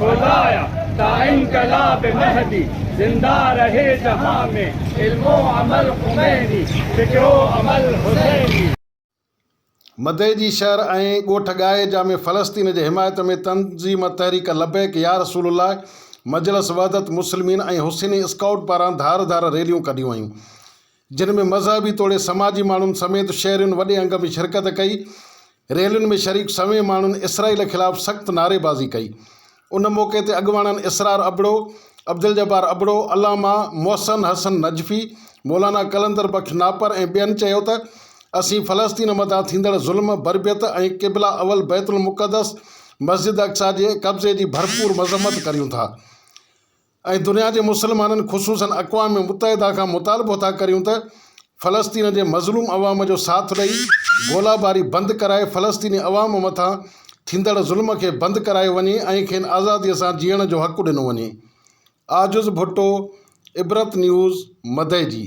خدايا تا انقلاب مهدي زنده رهي جهان ۾ علم و عمل خميني فڪر و عمل حسيني. مدئي جي شهر ۽ ڳوٺ ڳائي جا ۾ فلسطين جي حمايت ۾ تنظيم تحريڪ لبيڪ يا رسول الله، مجلس وحدت مسلمين ۽ حسيني اسڪائوٽ پاران ڌار ڌار ريليون ڪڍيون ويون. جن ۾ مذهبي توڙي سماجي ماڻهن سميت شهرين وڏي انگ ۾ شرڪت ڪئي. ريلين ۾ شريڪ سوين ماڻهن اسرائيل خلاف سخت نعريبازي ڪئي. ان موقعي تي اڳواڻن اسرار ابڙو، عبدالجبار ابڙو، علامه محسن حسن نجفي، مولانا قلندر بخش ناپر ۽ ٻين چيو ته اسين فلسطين مٿان ٿيندڙ ظلم، بربيت ۽ قبله اول بيت المقدس مسجد اقصيٰ جي قبضي جي ڀرپور مذمت ڪريون ٿا. ۽ دنيا جي مسلمانن خصوصن اقوام متحده کان مطالبو ٿا ڪريون ته فلسطين جي مظلوم عوام جو ساٿ ڏئي گولا باري بند ڪرائي فلسطيني عوام مٿان ٿيندڙ ظلم کي بند ڪرايو وڃي ۽ کين آزادي سان جيئڻ جو حق ڏنو وڃي عاجز ڀٽو عبرت نيوز مدئجي